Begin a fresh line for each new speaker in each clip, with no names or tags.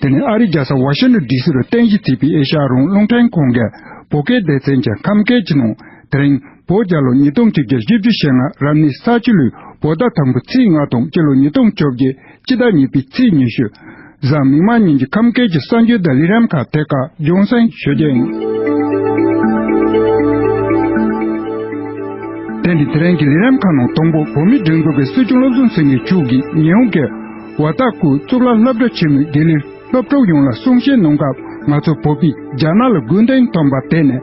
དེ་ནས་ཨ་རིའི་རྒྱལ་ས་ཝ་ཤིན་ཏོན་ལྡི་སི་རུ་རྟེན་གཞི་བརྩིས་པའི་ཨེ་ཤ་ཡ་རོང་རླུང་འཕྲིན་ཁང་གི་བོད་སྐད་སྡེ་ཚན་གྱི་ཁམས་སྐད་ཀྱི་ནང་དེ་རིང་བོད་རྒྱ་ལོ་ཉིས་སྟོང་གཅིག་བརྒྱ་བཞི་བཅུ་ཞེ་ལྔ་རབ་གནས་ས་བཅུ་ལོའི་བོད་ཟླ་དང་པོའི་ཚེས་ལྔ་དང་སྤྱི་ལོ་ཉིས་སྟོང་བཅོ་བརྒྱད་སྤྱི་ཟླ་གཉིས་པའི་ཚེས་ཉི་ཤུ། གཟའ་མིག་དམར་ཉིན་གྱི་ཁམས་སྐད་ཀྱི་གསར་འགྱུར་ཟླ་ལི་རམ་ཁ་ཐེ་ཀ་ལྗོན་སེང་ཞོལ་རྒྱལ་ཡིན། དེ་ནི་དེ་རིང་གི་ལི་རམ་ཁ་ནང་དང་པོ་བོད་མིའི་སྒྲིག་འཛུགས་ཀྱི་སྲིད་སྐྱོང་བློ་བཟང་སེང་གེ་མཆོག་གིས་ཉི་ཧོང་གི་བ་ལྟ་སྐུ་གཙུག་ལག་སློབ་གྲྭ་ཆེན་མོའི་དགེ་ལས་སློབ་གྲོགས་ཡོངས་ལ་གསུང་བཤད་གནང་སྐབས་ང་ཚོ་བོད་པས་རྒྱ་ནག་ལ་རྒུན་གཏན་ཐོན་པར་བརྟེན་ནས།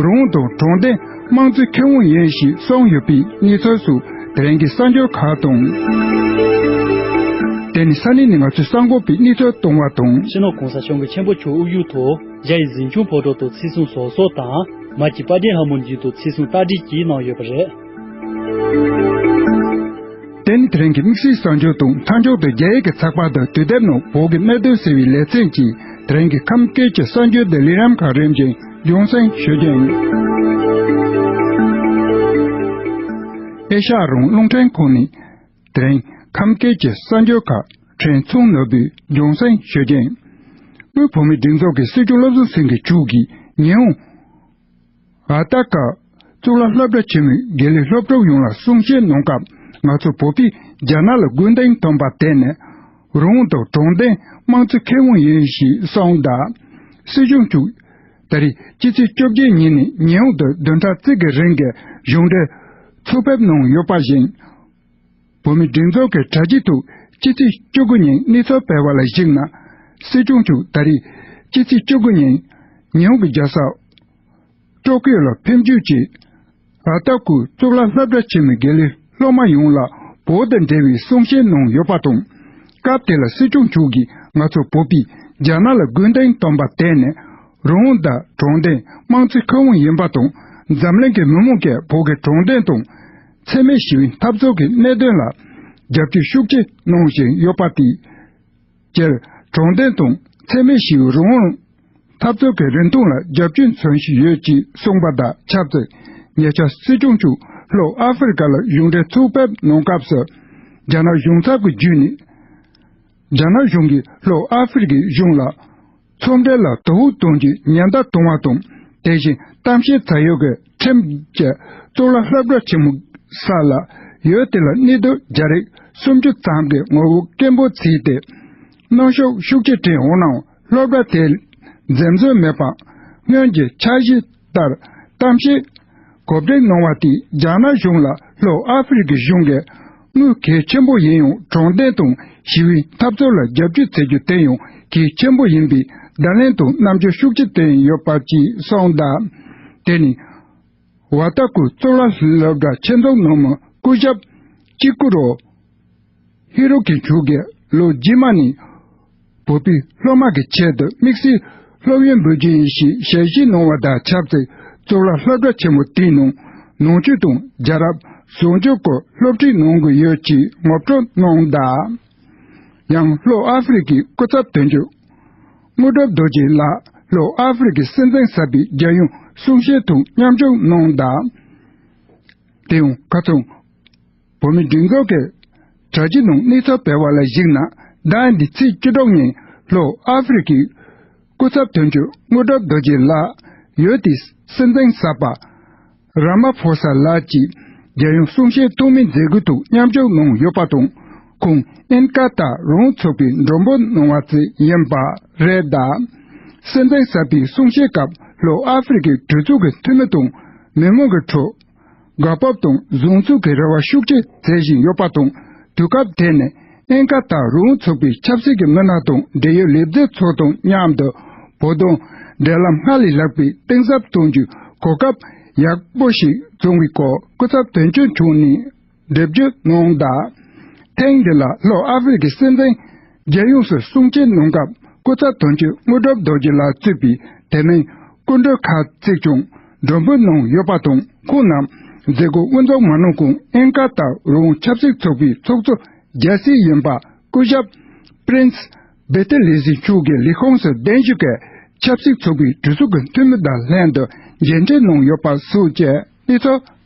རང་དང་དྲང་བདེན་དམངས་གཙོའི་ཁེ་དབང་ཡིན་ཞེས་གསུངས་ཡོད་པའི་གནས་ཚུལ་སོགས་དེ་རིང་གི་གསར་འགྱུར་ཁག་དང། དེ་ནི་ས་གནས་ནས་ང་ཚོས་གསར་འགོད་པའི་གནས་ཚུལ་བཏང་བ་དང། ཕྱི་ནང་གོང་ས་མཆོག་གི་ཆེན་པོ་
ཆུ་དབུགས་ཡུལ་དུ་རྒྱ་ཡི་གཟིམ་ཆུང་ཕོ་གྲོགས་དང་ཚིག་གསུང་ཟོག་གསོག་དང། མར་གྱི་པར་སྒྲིག་ཧ་མོ་འགྱིང་དུ་ཚིག་གསུང་རྟགས་བསྒྲིགས་ཀྱིས་གནང་ཡོད་པ་རེད།
དེ་ནི་དེ་རིང་གི་དམིགས་བསལ་གསར་འགྱུར་དང་མཐའ་མཇུག་ཏུ་རྒྱ་ཡིག་གི་ཚགས་པར་དང་དུས་དེབ་ནང་བོད་ཀྱི་གནད་དོན་ཟེར་བའི་ལེ་ཚན་གྱིས་དེ་རིང་གི་ཁམས་སྐད་ཀྱི་གསར་འགྱུར་ལྡི་ལི་རམ་ཁ་རིམ་བཞིན་རྒྱུན་བསྲིང་ཞུ་རྒྱུ་ཡིན། ཨེ་ཤ་ཡ་རང་རླུང་འཕྲིན་ཁང་ནས་དེ་རིང་ཁམས་སྐད་ཀྱི་གསར་འགྱུར་ཁ་ཕྲལ་མཚུངས་ནོར་བུས་རྒྱུན་བསྲིང་ཞུ་རྒྱུ་ཡིན། དབུས་བོད་མིའི་སྒྲིག་འཛུགས་ཀྱི་སྲིད་སྐྱོང་བློ་བཟང་སེང་གེ་མཆོག་གིས་ཉི་ཧོང། ཨ་ཏི་ཀ། གཙུག་ལག་སློབ་གྲྭ་ཆེན་མོའི་དགེ་ལས་སློབ་ཕྲུག་ཡོངས་ལ་གསུང་བཤད་གནང་སྐབས་ང་ཚོ་བོད་པས་རྒྱ་ནག་ལ་རྒོལ་འདེང་ཐོན་པར་བརྟེན་ནས། རང་དང་དྲང་བདེན་དམངས་གཙོ་ཁེ་དབང་ཡིན་ཞེས་གསུངས་གདའ། སྲིད་གཞུང་བཅུ། ད་རེས་ཕྱི་ཚེས་བཅོ་བརྒྱད་ཉིན་ནས་ཉི་ཧོང་དུ་བདུན་ཕྲག་གཅིག་གི་རིང་གི་གཞུང་འབྲེལ། ཚོགས་ཕེབས་གནང་ཡོད་པ་བཞིན། བོད་མི་སྒྲིག་འཛུགས་ཀྱི་དྲ་ཕྱི་ཐུག་སྤྱི་ཚེས་བཅུ་དགུ་ཉིན་གནས་ཚུལ་སྤེལ་བ་ལ་གཞིགས་ན། སྲིད་སྐྱོང་མཆོག་ད་རེས་སྤྱི་ཚེས་བཅུ་དགུ་ཉིན། ཉི་ཧོང་གི་རྒྱལ་ས། ཀྲོ་ཀིའོ་ལ་ཕེབས་འཇུག་བྱས། ད་ལྟ་ཁོས་གཙུག་ལག་སློབ་གྲྭ་ཆེན་མོའི་དགེ་ལས་སློབ་མ་ཡོངས་ལ་བོད་དང་འབྲེལ་བའི་གསུང་བཤད་གནང་ཡོད་པ་དང། སྐབས་དེ་ལ་སྲིད་སྐྱོང་མཆོག་གིས་ང་ཚོ་བོད་པས་རྒྱ་ནག་ལ་རྒོལ་འདེང་བཏོན་པར་བརྟེན་ནས། རོང་བོ་དང་གྲོང་བརྡལ་དམངས་གཙོའི་ཁེ་དབང་ཡིན་པ་དང་འཛམ་གླིང་གི་མི་མང་གིས་བོད་ཀྱི་གྲོང་བརྡལ་དང། འཚེ་མེད་ཞི་བའི་འཐབ་རྩོད་ཀྱི་གནད་དོན་ལ་རྒྱབ་སྐྱོར་ཤུགས་ཆེ་གནང་བཞིན་ཡོད་པ་དེས། སྤྱིར་དྲང་བདེན་དང་འཚེ་མེད་ཞི་བའི་རང་དབང་འཐབ་རྩོད་ཀྱི་རིན་ཐང་ལ་རྒྱབ་སྐྱོར་མཚོན་བཞིན་ཡོད་ཅེས་གསུངས་པ་དང་ཆབས་ཅིག་ཉེ་ཆར་སྲིད་སྐྱོང་ཆུ་ལོག་ཨ་ཧྥེ་རི་ཀ་ལ་གཞུང་འབྲེལ་ཚོགས་ཕེབས་གནང་སྐབས་སུ། རྒྱ་ནག་གཞུང་ཚབ་ཀྱི་བརྒྱུད་ནས། རྒྱ་ནག་གཞུང་གིས་ལྷོ་ཨ་ཧྥེ་རི་ཀའི་གཞུང་ལ། ཚོང་འབྲེལ་ལ་དོ་ཧུར་གཏོང་རྒྱུའི་ཉེན་བརྡ་གཏོང་བ་དང་དེ་བཞིན་གཏམ་བཤད་ཚགས་ཡོད་ཀྱི་ཁྲིམས་བཅད་གཙུག་ལག་ལྷ་བྲག་ཆེན་མོ་ས་ལ་ཡོད་དེ་ལ་གནས་སྡོད་རྒྱ་རིགས་སུམ་ཅུ་ཙམ་གྱི་ངོ་བོ་སྐད་འབོད་བྱས་ཏེ། གནོན་ཤུགས་ཤུགས་ཆེ་སྤྲད་འོང་ནའང་སློབ་གྲྭ་དེས་འཛེམ་ཟོན་མེད་པར་སྔོན་གྱི་འཆར་གཞི་ལྟར། གཏམ་བཤད། གོ་བདེ་གནང་བ་དེས་རྒྱ་ནག་གཞུང་ལ་ལྷོ་ཨ་ཧྥི་རི་ཀའི་གཞུང་གིས་དངུལ་གལ་ཆེན་པོ་ཡིན་ཡང་དྲང་བདེན་དང་ཞི་བའི་འཐབ་རྩོད་ལ་རྒྱབ་སྐྱོར་བྱེད་རྒྱུ་དེ་ཡང་གལ་ཆེན་པོ་ཡིན་པའི་བརྡ་ལན་དང་རྣམ་འགྱུར་ཤུགས་ཆེ་བསྟན་ཡོད་པ་བཅས་གསུངས་གདའ། དེ་ནི། བ་ད་ཀུ་གཙུག་ལག་སློབ་གྲྭ་ཆེ་མཚམས་ནང་མི་སྐུ་ཞབས། ཀྱི་ཀུ་རོ། ཧི་རོ་ཀི་མཆོག་གིས་ལོ་རྗེས་མ་ནས། བོད་པའི་སློབ་མ་གི་ཆེད་དུ་དམིགས་བསལ་སློབ་ཡོན་འབུལ་རྒྱུ་ཡིན་ཞེས་ཞལ་བཞེས་གནང་བ་དང་ཆབས་ཅིག་གཙུག་ལག་སློབ་གྲྭ་ཆེན་མོ་དེའི་ནང་ནང་ཆོས་དང་རྒྱལ་རབས་བཟང་སྤྱོད་ཀྱི་སློབ་ཁྲིད་གནང་དགོས་ཡོད་ཅེས་ངོ་སྤྲོད་གནང་གདའ། ཡང་ལྷོ་ཨ་ཧྥི་རི་ཀའི་སྐུ་ཚབ་དོན་གཅོད་དངོས་གྲུབ་རྡོ་རྗེ་ལགས་ལྷོ་ཨ་ཧྥི་རི་ཀའི་སྲིད་འཛིན་གསར་པའི་རྒྱལ་ཡོངས་གསུང་བཤད་དང་མཉམ་ཞུགས་གནང་གདའ། དེའང་ཁ་ཚང། བོད་མི་སྒྲིག་འཛུགས་ཀྱི་དྲ་རྒྱའི་ནང་གནས་ཚུལ་སྤེལ་བ་ལ་གཞིགས་ན་ཟླ་འདིའི་ཚེས་བཅུ་དྲུག་ཉིན་ལྷོ་ཨ་ཧྥེ་རི་ཁའི་སྐུ་ཚབ་དོན་གཅོད་དངོས་གྲུབ་རྡོ་རྗེ་ལགས་ཡོད་དེ་སྲིད་འཛིན་གསར་པ་རཱ་མ་ཕོ་སཱ་ལགས་ཀྱིས་རྒྱལ་ཡོངས་གསུང་བཤད་ཐོག་མའི་མཛད་སྒོའི་ཐོག་མཉམ་ཞུགས་གནང་ཡོད་པ་དང་ཁོང་ཨིན་ཀ་ད་རུང་ཚོགས་པའི་མགྲོན་པོ་གནང་བ་བཅས་ཡིན་པ་རེད། སྲིད་འཛིན་གསར་པའི་གསུང་བཤད་སྐབས་ལྷོ་ཨ་ཧྥེ་རི་ཁའི་གྲོས་ཚོགས་ཀྱི་འཐུས་མི་དང་མི་མང་གི་ཁྲོད། དགའ་སྤོབས་དང་བཟང་ཚུགས་ཀྱི་རེ་བ་ཤུགས་ཆེ་མཛད་བཞིན་ཡོད་པ་དང་དུས་སྐབས་དེ་ནི་ཨེན་ཀ་དང་རི་བོང་ཚུགས་པའི་ཆབ་སྲིད་ཀྱི་མི་སྣ་དང་འབྲེལ་ཡོད་ལས་བཟོའི་ཚོགས་དང་མཉམ་དུ་བོད་དོན་འབྲེལ་ལམ་སྔར་ལས་ལྷག་པའི་གཏིང་ཟབ་གཏོང་རྒྱུའི་གོ་སྐབས་ཡག་པོ་ཞིག་བྱུང་བའི་སྐོར་སྐུ་ཚབ་དོན་གཅོད་འཕྲོད་ནས། འདེབས་རྒྱུ་གནང་གདའ། ཐེངས་འདི་ལ་ལྷོ་ཨ་ཧྥེ་རི་ཁའི་སྲིད་འཛིན་རྒྱལ་ཡོངས་སུ་སྲུང་བརྩི་གནང་སྐབས་སྐུ་ཚབ་དོན་གཅོད་དངོས་གྲུབ་རྡོ་རྗེ་ལགས་གཙོས་པའི་དེ་མིན་སྐུ་མགྲོན་ཁག་གཅིག་ཀྱང་མགྲོན་འབོད་གནང་ཡོད་པ་དང་ཁོང་རྣམས་མཛད་སྒོ་དབུ་འཛུགས་མ་གནང་གོང་ཨིན་ཀ་ཏར་རོང་ཆབ་སྲིད་ཚོགས་པའི་ཚོགས་གཙོ་རྒྱལ་སྲས་གཡོན་པ་སྐུ་ཞབས Prince Bettelherzig མཆོག་གི་ལས་ཁུངས་སུ་གདན་ཞུ་སྐབས་ཆབ་སྲིད་ཚོགས་པའི་གྲོས་ཚོགས་ཀྱི་འཐུས་མི་དང་ལྷན་དུ་མཇལ་འཕྲད་གནང་ཡོད་པ་སོགས་ཀྱི་གནས་ཚུལ་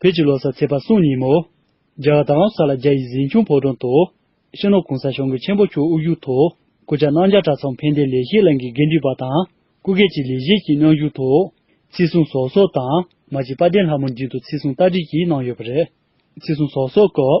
བོད་ཀྱི་ལོ་གསར་ཚེས་པ་སྲུང་ཉིན་མོ། རྒྱ་གར་དང་ཨ་བྷ་ས་ལ་རྒྱ་ཡི་གཟིམ་ཆུང་ཕོ་བྲང་དུ། ཕྱི་ནང་གོང་ས་ཞང་གི་ཆེན་པོ་ཁྱུང་དབུགས་ཡུལ་དུ། སྐུ་བཅར་གནང་བརྒྱ་ཕྲག་ཚང་ཕན་བདེ་ལེགས་བཤད་གླིང་གི་དགེ་འདུན་པ་དང་སྐུ་སྒེར་གྱི་ལས་བྱེད་ཀྱིས་གནང་བཞུགས་ཐོག། ཚེས་གསུང་ཟོག་སོགས་དང་མ་གཅིག་དཔལ་ལྡན་ལྷ་མོ་མདུན་དུ་ཚེས་གསུང་རྟ་བསྒྲིགས་ཀྱིས་གནང་ཡོད་པ་རེད། ཚེས་གསུང་ཟོག་སོགས་སྐབས།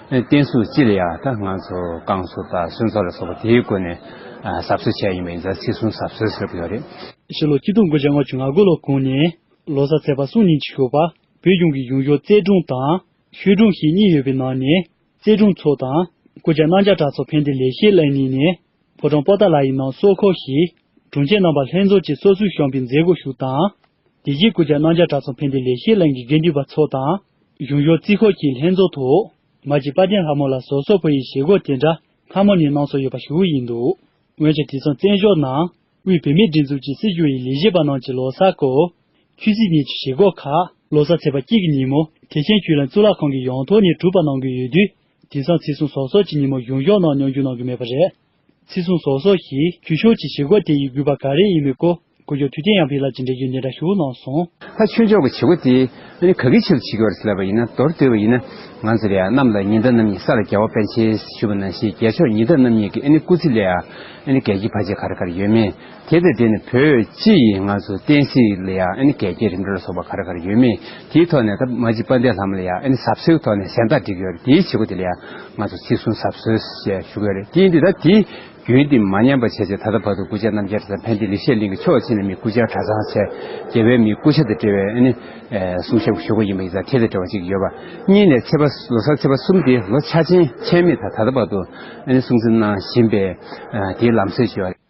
བསྟན་སྲུང་སྤྱི་ལ་ཡང་དང་ང་ཚོ་བསྐང་གསོ་དང་གསོལ་ཚོགས་ལ་སོགས་པ་དེའི་སྒོ་ནས་ཟབ་གསོལ་བྱས་ཡིན་པ་ཡིན་ཙང་ཚིག་གསུམ་ཟབ་གསོལ་ཟེར་གྱི་ཡོད་རེད། ཕྱི་ལོ་སྐྱིད་སྡུག་མགོ་བྱང་ངོ་ཆུ་ང་དགུ་ལོ་གོང་ནས་ལོ་གསར་ཚེས་པ་གསུམ་ཉིན་གྱི་ཞོགས་པ་བོད་གཞུང་གི་གཞུང་ཞོར་རྩེ་སྒྲུང་
དང་ཤོད་སྒྲུང་ཞེས་གཉིས་ཡོད་པའི་ནང་ནས་རྩེ་སྒྲུང་ཚོ་དང་སྐུ་བཅར་གནང་བྱ་གྲགས་ཚོ་ཕན་བདེ་ལེགས་ཤེས་ལེགས་གཉིས་ནས་ཕོ་བྲང་པོ་ཏཱ་ལ་ཡི་ནང་སོག་ཁོག་ཞིག་དྲུང་ཆེ་རྣམ་པ་ལྷན་ཚོགས་ཀྱི་སོ་སོའི་བཤམས་པའི་མཛད་སྒོ་ཞུགས་དང། དེ་རྗེས་སྐུ་ཕྱྭ་སྣང་ཆ་གྲགས་ཚོང་ཕན་བདེ་ལེགས་བཤད་གླིང་གི་དགེ་འདུན་པ་ཚོ་དང། གཞུང་ཞོར་རྩིས་འཁོར་གྱི་ལྷན་ཚོགས་ཐོག་མ་གཅིག་དཔའ་ལྡན་ལྷ་མོ་ལ་ཟོར་སོག་པོ་ཡི་ཞེ་འགོག་དེ་འདྲ་སྔ་མོ་ནས་གནང་སྲོལ་ཡོད་པ་ཞུ་འོས་ཡིན་འདུག་འོན་ཀྱང་དེ་མཚུངས་བཙན་བྱོལ་ནང་དབུས་བུད་མེད་སྒྲིག་འཛུགས་ཀྱི་སྲིད་གཞུང་ཡི་ལས་བྱེད་པ་རྣམས་ཀྱི་ལོ་སར་སྐོར། ཆུ་ཚོད་གཉིས་ཀྱི་ཞེ་འགོག་ཁག། ལོ་སར་ཚེས་པ་གཅིག་གི་ཉིན་མོ་ཐེག་ཆེན་ཆོས་གླིང་གཙུག་ལག་ཁང་གི་ཡང་ཐོག་ནས་གྲུབ་པ་གནང་གི་ཡོད་དུས་དེང་སང་ཚེས་གསུམ་ཟོར་སོག་ཀྱི་ཉིན་མོ་གཞུང་ཞོར་ནང་མྱོང་རྒྱུ་གནང་གི་མེད་པ་རེད། ཚིག་གཟུངས་སོགས་སོགས་ཀྱིས་བརྒྱུད་ཤོག་ཅེས་བྱེད་སྒོ་དེ་ཡི་གུས་པ་ག་རེ་ཡིན་མི་གོ་གུ་ཡོད་དུས་དེ་ཡང་བྷི་ལ་ཇི་འདྲ་རྒྱུ་འདི་
འདྲ་ཞུ་གནང་སོང། ལྷ་ཆོས་མཆོག་གི་བྱེད་སྒོ་དེ་ཨ་ནི་ག་གི་ཆེད་དུ་བྱེད་ཀྱི་བ་རེད་ཟེར་ལབ་པ་ཡིན་ན་མདོར་བསྡུས་པ་ཡིན་ན་ང་ཚོ་རེ་ཨ་རྣམས་ལ་ཉི་ཟླ་རྣམ་གཉིས་ས་ལ་རྒྱལ་བ་པན་ཆེན་ཞུས་པ་ན་ཞེས་རྒྱལ་མཆོག་ཉི་ཟླ་རྣམ་གཉིས་ཀྱི་ཨ་ནི་སྐུ་ཚེ་ལས་ཨ་ནི་གལ་གྱི་བར་ཆད་ག་རེ་ག་རེ་ཡོད་མེད་དེ་ལྟ་དེ་ནི་བོད་སྤྱི་ཡི་ང་ཚོ་བསྟན་སྲིད་ལ་ཡང་ཨ་ནི་གལ་ཆེའི་རིམ་གྲོ་ལ་སོགས་པ་ག་རེ་ག་རེ་ཡོད་མེད་དེའི་ཐོག་ནས་ད་མ་ཅིག་པ་འདས་ལྷ་མོ་ལ་ཡང་ཨ་ནི་ཟབ་སྲོལ་ཐོག་ནས་གཟེངས་རྟགས་བསྒྲིགས་ཡོད་རེད་དེའི་བྱེད་སྒོ་དེ་ལ་ཡང་ང་ཚོ་ཚིག་གསུམ་ཟབ་སྲོལ་ཞེས་ཞུ་གི་ཡོད་རེད་དེ་ཡིན་དུས་ད་དེའི་རྒྱུན་དེ་མ་ཉམས་པ་བྱས་ཚེ་ད་ལྟ་བར་དུ་སྐུ་ཕྱྭ་རྣམ་རྒྱལ་གྲྭ་ཚང་ཕན་བདེ་ལེགས་བཤད་གླིང་གི་ཆོག་ཆེ་ནས་མི་སྐུ་ཕྱྭ་གྲྭ་ཚང་ཆེ་རྒྱལ་བའི་མི་སྐུ་ཕྱྭ་དང་འབྲེལ་བའི་ཨ་ནི་གསུང་ཞབས་ཀྱི་ཞུ་སྒོ་ཡིན་པ་ཡིན་ཙང་དེ་ལས་བྲལ་བ་ཅིག་ཡོད་པ་གཉིས་ནས་ཚེས་
པ་ལོ་སར་ཚེས་པ་གསུམ་དེ་ལོ་ཕྱྭ་ཆེན་ཆེན་མེད་ད་ད་ལྟ་བར་དུ་ཨ་ནི་སྲུང་བརྩི་གནང་བཞིན་པས་དེའི་ལམ་སྲོལ་ཅིག་ཡོད་རེད།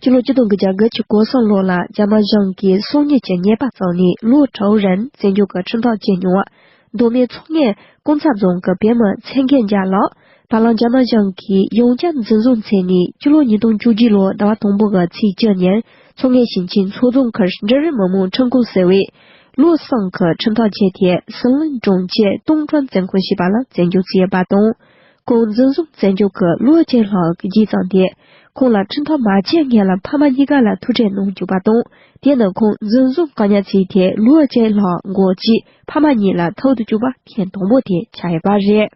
སྤྱི་ལོ་སྐྱིད་སྡོང་གི་རྒྱ་གར་གྱི་སྐོར་སྲུང་ལོ་ལ་རྒྱ་དམར་གཞུང་གིས་སྲུང་ཉེས་ཀྱི་ཉེས་པ་བཙུགས་ནས་ལུའོ་ཀྲའོ་རན་བཙན་བྱོལ་གྱི་ཁྲིམས་ཐག་བཅད་མྱོང་བ། མདོ་སྨད་མཚོ་སྔའི་ཀོང་ཚ་རྫོང་གི་བེད་མ་ཚེ་མཁས་འཇའ་ལགས། བ་གླང་རྒྱ་དམར་གཞུང་གིས་ཡོངས་ཁྱབ་འཛིན་བཟུང་མཚན་ནས་སྤྱི་ལོ་ཉིས་སྟོང་བཅུ་བཞི་ལོའི་ཟླ་བ་དང་པོ་གི་ཚེས་བཅུ་ཉིན་མཚོ་སྔའི་ཞིང་ཆེན་
མཚོ་རྫོང་ཁར་འབྲི་རུའི་མི་མང་ཁྲིམས་ཁང་ཟེར་བས། ལུའོ་སང་གི་ཁྲིམས་ཐག་བཅད་དེ་ཟི་ལིང་གྲོང་ཁྱེར་ཏུང་ཀྲོན་བཙན་ཁང་ཞེས་པ་ལ་བཙན་བྱོལ་བྱས་པ་དང། ཁོང་འཛིན་བཟུང་བཙན་བྱོལ་གྱི་ལོ་གཅིག་ལྷག་བགྱིས་ཙང་དེས་ཁོང་ལ་ཁྲིམས་ཐག་མ་བཅད་ངེད་ལ་ཕ་མ་གཉིས་ཀ་ལ་ཐུག་འཕྲད་གནང་བཅུག་པ་དང་དེ་ནི་ཁོང་འཛིན་བཟུང་བཀག་ཉར་བྱས་ཏེ་ལོ་གཅིག་ལྷག་འགོར་རྗེས་ཕ་མ་གཉིས་ལ་ཐུག་ཏུ་བཅུག་པ་ཐེངས་དང་པོ་དེ་ཆགས་ཡོད་པ་རེད།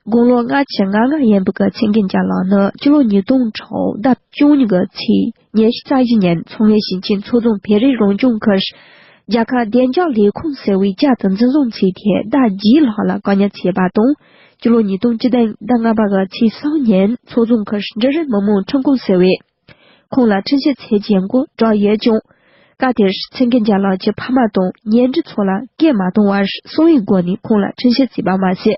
དགུང་ལོ་ལྔ་ཆིག་ང་ལྔ་ཡིན་པའི་ཀི་ཆིང་ཀིན་ཅཱ་ལགས་ནི་སྤྱི་ལོ་ཉིས་སྟོང་ཁྲག་ཟླ་བཅུ་གཉིས་ཀྱི་ཚེས། ཉེར་བཞི་རྩ་བཞི་ཉིན་མཚོ་སྔོན་ཞིང་ཆེན་མཚོ་རྫོང་བེ་རི་རང་སྐྱོང་ཁུལ། རྒྱ་གར་བདེ་འཇགས་ལས་ཁུངས་ཟེར་བས་བཅའ་སྡོད་འཛིན་བཟུང་ཚེ་ཐེ་བདག་རྒྱའི་ལག་ལ་བཀག་ཉར་བྱས་པ་དང། སྤྱི་ལོ་ཉིས་སྟོང་བཅུ་དང་ཟླ་ལྔ་པ་དགའ་ཚེས་སང་ཉིན་མཚོ་རྫོང་ཁུལ་འབྲི་རུ་མི་དམངས་ཁྲིམས་ཁང་ཟེར་བས་ཁོང་ལ་འཕྲིན་ཞུ་ཚད་འཇལ་མགོ་བསྒྲགས་ཡོད་ཀྱང། སྐབས་དེར་ཚེ་མཁས་འཇམ་ལགས་ཀྱི་ཕ་མ་དང་ཉེ་འབྲེལ་ཚོ་ལ་སྐད་མ་གཏོང་བར་གསང་བའི་སྒོ་ནས་ཁོང་ལ་འཕྲིན་ཞུ་བརྩིས་པ་མ་ཟད།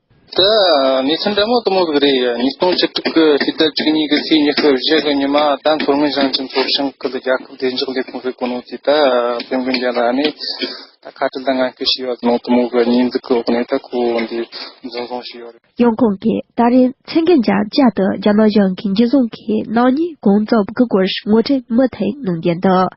དེ་
ནས་ཚེ་འདས་མ་གཏོགས་མོ་གི་རེད་ཉིས་སྟོང་བཅུ་དྲུག་གི་ཕྱི་ཟླ་བཅུ་གཉིས་ཀྱི་ཚེས་ཉི་ཤུ་བཞི་གི་ཉི་མ་དང་མཚོ་སྔོན་ཞིང་ཆེན་མཚོ་ཞིང་ཁུལ་རྒྱལ་ཁབ་བདེ་འཇགས་ལས་ཁུངས་ཀྱི་གོ་ནོར་དེ་དག་དཔོན་དགོན་རྒྱལ་ལགས་ནས་ད་ཁ་བྲལ་དང་ངན་སྐུལ་བྱས་ཡོད་ནང་དུ་མོ་གི་ཉིས་འཛུགས་ཀྱི་འོག་ནས་ད་ཁོ་བོ་འདི་
འཛིན་བཟུང་བྱས་ཡོད་རེད། ཡང་ཁོང་གིས་ད་རིང་ཚེ་འགན་བཅར་བཅར་དུ་རྒྱ་ནག་གཞུང་གིས་འཇིགས་བཟུང་གིས་ནག་ཉེས་གང་རྩོབ་ཀྱི་སྐོར་ངོ་སྤྲད་མུ་མཐུད་
གནང་རྒྱུ་འདུག་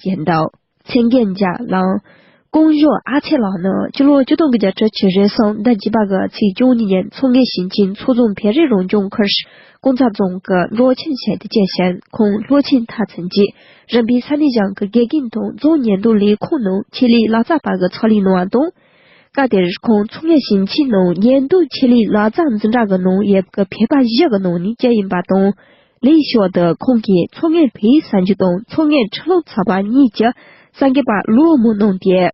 རྒྱན་དང། མཚན་རྒྱན་བརྒྱ་བླངས། ཀོང་ཇོ་ཨ་ཚེ་ལགས་ནི་སྤྱི་ལོ་བཅུ་སྟོང་གི་བརྒྱ་ཕྲག་གྱི་རེས་གསང་ཟླ་བཞི་པ་ག་ཚེས་བཅུ་གཉིས་ཉིན་མཚོ་སྔོན་ཞིང་ཆེན་མཚོ་རྫོང་བེ་རི་རང་སྐྱོང་ཁུལ་ཀོང་ཚ་རྫོང་གི་འབྲོག་ཆེན་བྱས་ཏེ་སྐྱེས་ཞིང་ཁོང་ལྷོ་ཆེན་མཐའ་ཚན་གྱི་རིམ་པའི་ས་གནས་ཞང་གི་དགེ་རྒན་དང་རྫོང་ཉེན་རྟོག་ལས་ཁུངས་ནང་ཆེད་ལས་ལག་རྩལ་པ་གི་ཚོགས་ལས་གནང་བ་དང། སྐབས་དེར་ཁོང་མཚོ་སྔོན་ཞིང་ཆེན་ནང་ཉེན་རྟོག་ཆེད་ལས་ལག་རྩལ་འཛིན་གྲྭ་གི་ནང་ཡོད་པའི་བོད་པ་བཞི་གི་ནང་ནས་གཅིག་ཡིན་པ་དང། ལེའི་ཕྱོགས་འདི་ཁོང་གིས་མཚོ་སྔོན་བོད་ཡིག་བསང་ཆུ་དང་མཚོ་སྔོན་ཁྲི་ལོ་ཚ་བ་གཉིས་ཀྱི་སངས་རྒྱས་པ་ཀླུ་བོ་མོ་གནང་སྟེ།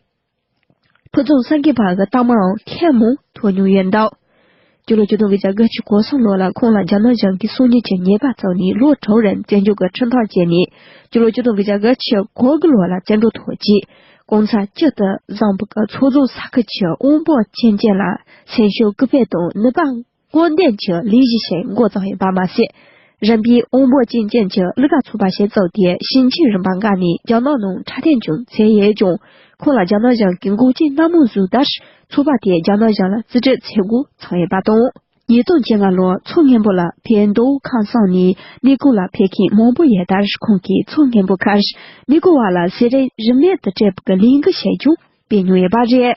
ཕུ་བཙུན་སངས་རྒྱས་པ་འགའ་རྟགས་མའང་མཁས་མང་ཐོས་མྱོང་ཡོད་འདུག་སྤྱི་ལོ་བཅུ་དང་གྱ་དགུ་ཕྱི་གོ་སོང་ལོ་ལ་ཁོང་ལ་རྒྱ་ནག་གཞུང་གིས་གསུང་ཉུལ་གྱི་ཉེས་པ་བཙུགས་ནས་ལོ་དྲུག་རིང་བཙན་བྱོལ་གྱི་ཁྲིམས་ཐག་བཅད་ནས་སྤྱི་ལོ་བཅུ་དང་གྱ་དགུ་ཕྱི་གོ་དགུ་ལོ་ལ་བཙན་བྲོད་ཐོག་རྗེ་གོང་ཚ་སྤྱི་དང་བཟང་པོ་གྱི་ཚོགས་རྫོགས་ས་ཁུལ་གྱི་དབོན་པོ་ཆེན་བཅས་ལ་སེམས་ཤུགས་སྐུལ་སྤེལ་དང་ནུས་པ་དཀོན་ལྡན་གྱི་ལས་བཞི་ཞིང་མགོ་བརྩམས་ཡིན་པར་མ་ཟད། རིམ་པས་དབང་པོ་སྐྱེས་ཅན་གྱི་གླུ་ག་ཚུགས་པ་ཞིག་བཙུགས་ཏེ་ཞིང་ཆེན་རིམ་པ་འགའ་ནས་རྒྱ་ནག་ནང་འཁྲབ་སྟོན་ཀྱང་མཛད་ཡོད་ཀྱང་ཁོང་ལ་རྒྱ་ནག་གཞུང་གིས་འགོག་རྐྱེན་སྣ་མང་བཟོས་དར་ཚུགས་པ་དེས་རྒྱ་ནག་གཞུང་ལ་རྩིས་སྤྲོད་བྱེད་འགོ་ཚུགས་ཡོད་པ་དང། ཉིས་སྟོང་བཅོ་ལྔ་ལོར་མཚོ་སྔོན་པོ་ལ་ཕའི་མདོ་དབུས་ཁམས་གསུམ་
ནས་གནས་སྐོར་ལ་ཕེབས་མཁན་མང་པོ་ཡོད་དར་ཁོང་གིས་མཚོ་སྔོན་པོ་ཁར་གནས་སྐོར་བ་ལ་ཟས་རིགས་རིམས་ནད་དུ་སྤྲད་པའི་གླེང་གཞི་ཞིག་ཀྱང་སྤེལ་མྱོང་ཡོད་པ་རེད།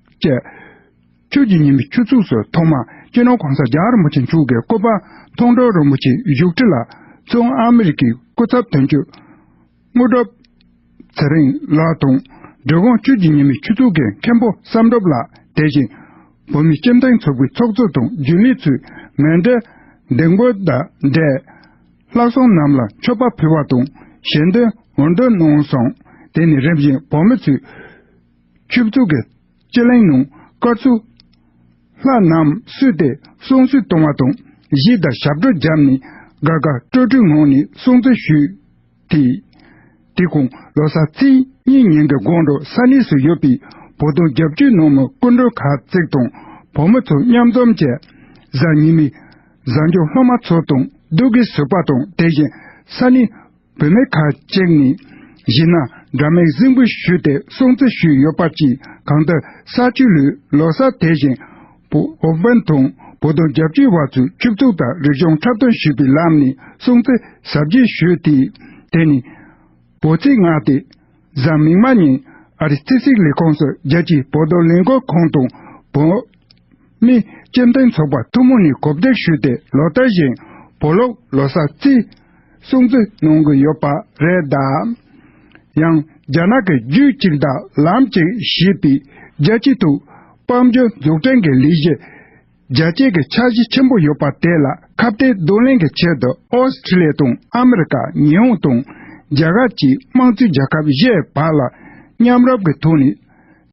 ཅེས། ཆོས་ཀྱི་ཉི་མའི་ཆུ་ཚོགས་སུ་ཐོག་མར་སྤྱི་ནོར་གོང་ས་རྒྱ་རིན་པོ་ཆེ་མཆོག་གི་སྐུ་པར་མཐོང་གྲོལ་རིན་པོ་ཆེའི་བཞུགས་ཁྲི་ལ་མཚོན་ཨ་མེ་རི་ཁའི་སྐུ་ཚབ་དོན་གཅོད་དངོས་གྲུབ་ཚེ་རིང་ལགས་དང་འབྲི་གུང་ཆོས་ཀྱི་ཉི་མའི་ཆུ་ཚོགས་ཀྱི་མཁན་པོ་བསམ་གྲུབ་ལགས་དེ་བཞིན་བོད་མིའི་སྤྱི་མཐུན་ཚོགས་པའི་ཚོགས་གཙོ་དང་རྒྱུན་ལས་ཚུལ་མིན་འདྲེ་སྡེ་མགོན་དང་འདྲེ་ལྷག་སོང་རྣམས་ལ་མཆོད་པ་ཕུལ་བ་དང་ཞལ་འདོན་འོས་འདོན་གནང་སོང་དེ་ནས་རིམ་བཞིན་བོད་མི་ཚོས། ཆུ་བཙུགས་ཀྱི་སྤྱི་གླིང་ནང་དཀར་ཚུར། ལྷ་རྣམས་བསུས་ཏེ་སྲུང་བརྩི་གཏོང་བ་དང་གཞིས་བདག་ཞབས་བྲོ་བརྒྱབ་ནས་དགའ་དགའ་སྤྲོ་སྤྲོའི་ངང་ནས་སྲུང་བརྩི་ཞུས། དེ་དུས་ཁོང་ལོ་སར་ཚེས་གཉིས་ཉིན་གྱི་དགོང་དྲོ་ས་གནས་སུ་ཡོད་པའི་བོ་དོང་རྒྱབ་ཆུའི་ནང་མི་སྐུ་མགྲོན་གར་བརྩེགས་དང་བོ་མི་ཚོ་མཉམ་འཛོམས་བྱས། གཟའ་ཉི་མའི་གཟའ་མཇུག་སློབ་མ་ཚོ་དང་སྡུག་གི་ཟུར་པ་དང་དེ་བཞིན་ས་གནས་བུད་མེད་ཁ་ཅིག་ནི། གཞི་ན་དགྲ་མེད་སྲིན་པོ་བཞུད་དེ་སྲོང་བཙན་བཞུད་ཡོད་པ་ཅི་གང་ལྟར་ས་བཅུ་ལུས་ལོ་ས་དེ་བཞིན། བོད་བན་དང་བོ་དོང་རྒྱ་བརྒྱུད་བ་ཚོས་ཆུབ་གཙུག་དང་རིག་གཞུང་འཁྲབ་སྟོན་ཞུས་པའི་ལམ་ནས་སྲོང་བཙན་ཟབ་རྒྱས་བཞུད་དེ། དེ་ནས། བོད་ཚིག་སྔ་སྟེ། གཟའ་མིག་མ་ཉིན། ཨ་རི་སྤྱི་སྲིད་ལས་ཁུངས་སུ་རྒྱལ་སྤྱིའི་བོད་དོན་ལས་འགུལ་ཁང་དང་བོད། ནི། སྤྱི་མཐུན་ཚོགས་པ་ཐུན་མོང་ནས་གོ་བསྡུར་ཞུས་ཏེ་ལོ་ལྟར་བཞིན། བོད་ལུགས་ལོ་གསར་རྩིས། སྲུང་བརྩི་གནང་གི་ཡོད་པ་རེད་ད། ཡང། རྒྱ་ནག་གི་རྒྱུད་གཅིག་མཐའ་ལམ་གཅིག་ཞེས་པའི་རྒྱལ་སྤྱིའི་ཐུགས་དཔང་རྒྱུད་འཛུགས་སྐྲན་གྱི་ལས་གཞི། རྒྱལ་གཅེས་ཀྱི་འཆར་གཞི་ཆེན་པོ་ཡོད་པ་དེ་ལ་ཁ་བརྡའི་བསྡུ་ལེན་གྱི་ཆེད་དུ་ཨོསི་ཁྲི་ལེ་དང་ཨ་མི་རི་ཀ་ཉི་ཧོང་དང་རྒྱ་གར་བཅས་དམངས་གཙོའི་རྒྱལ་ཁབ་བཞི་བར་ལ་མཉམ་རུབ་ཀྱི་ཐོག་ནས།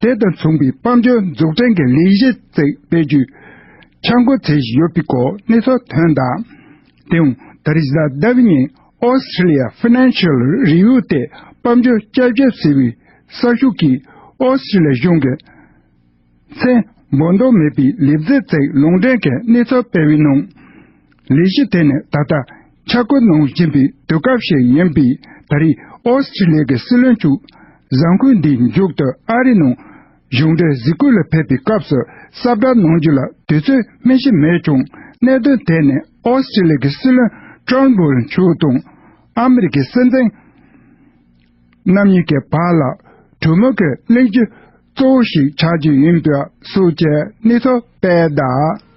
དེ་དང་མཚུངས་པའི་དཔལ་འབྱོར་འཛུགས་སྐྲན་གྱི་ལས་གཞི་བརྩིགས་སྤེལ་རྒྱུ། འཆར་འགོད་བྱས་བཞིན་ཡོད་པའི་གོ་གནས་ཚོགས་ཐུན་དང། དེའང་ད་རེས་ཟླ་ཟླ་བའི་ཉིན Australia Financial Review སྟེ་དཔལ་འབྱོར་དཔྱད་བརྗོད་ཟེར་བའི་གསར་ཤོག་གིས Australia གཞུང་གི་མཚན་འབོད་འདོད་མེད་པའི་ལས་བརྩིགས་བརྩིགས་ལུང་འདྲེན་གྱི་གནས་ཚུལ་སྤེལ་བའི་ནང། ལས་གཞི་དེ་ནི་ད་ལྟ་འཆར་བཀོད་གནང་བཞིན་པའི་དུས་སྐབས་ཤིག་ཡིན་པས་ད་རེས་ཨོ་སི་ཁྲི་ལི་གི་སྲིད་བློན་ཆུ་བཟང་ཁོས་འདིའི་མཇུག་ཏུ་ཨ་རིའི་ནང་གཞུང་འབྲེལ་གཟིགས་སྐོར་ལ་ཕེབས་པའི་སྐབས་སུ་གསབ་བསྒྲགས་གནང་རྒྱུ་ལ་དུས་ཚོད་སྨིན་གཞི་མེད་ཀྱང་གནད་དོན་དེ་ནི་ཨོ་སི་ཁྲི་ལི་གི་སྲིད་བློན་ཏྲོན་བོལ་མཆོག་དང་ཨ་མི་རི་ཀའི་སྲིད་འཛིན་རྣམ་གཉིས་ཀྱི་བར་ལ་གྲོས་མོལ་གྱི་གླེང་གཞི་གཙོ་བོ་ཞིག་ཆགས་རྒྱུ་ཡིན་པའི་སྲོལ་བཅད་གནས་ཐུབ་པས་གདའ།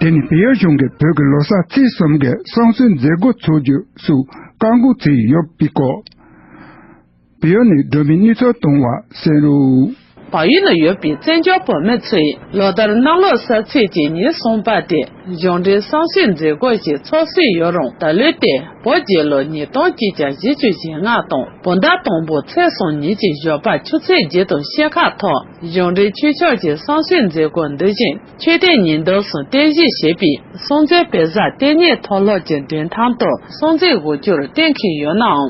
དེ་ནི་བལ་ཡུལ་གཞུང་གིས་བོད་ཀྱི་ལོ་གསར་ཚེས་གསུམ་གྱི་བསང་གསོལ་མཛད་སྒོ་འཚོགས་རྒྱུ་སུ་བཀའ་འགོ་ཚུགས་ཡོད་པའི་སྐོར། བི་ཡོ་ནི་སྒྲོན་མེ་སྣུད་ཚོགས་བཏུང་བ་སེན་རུ། བ་ཡུལ་ན་ཡོད་པའི་བཙན་བྱོལ་བོད་མི་ཚོས་ལོ་ལྟར་གནམ་ལོ་གསར་ཚེས་ཀྱི་ཉིན་གསུམ་པ་དེ་གཞུང་འབྲེལ་བསམ་ཤེས་མཛད་སྒོ་ཞིག་
ཚོགས་སྲོལ་ཡོད་རུང་ད་ལོའི་ཏེ་བོ་རྗེས་ལོ་ཉིས་སྟོང་གཅིག་གྱ་བཞི་བཅུ་ཞེ་ལྔ་དང་བོ་ཟླ་དང་པོ་ཚེས་སོ་གཉིས་ཀྱི་ཞོགས་པ་ཆུ་ཚོད་བརྒྱད་དང་ཕྱེད་ཁ་ཐོག་གཞུང་འབྲེལ་ཆོས་ཕྱོགས་ཀྱི་བསམ་ཤེས་མཛད་སྒོ་འདི་བཞིན་ཆོས་སྡེ་ཉིས་ཟླ་གསུང་རྟེན་གཞི་ཞེས་པའི་སྲོང་བཙན་བེ་བཟའ་ལྟེ་གནས་མཐོ་སློབ་ཀྱི་མགྲོན་ཁང་དུ་སྲོང་བཙན་དགུ་བཅུར་བསྟེན་གྱི་ཡོད་ནའང།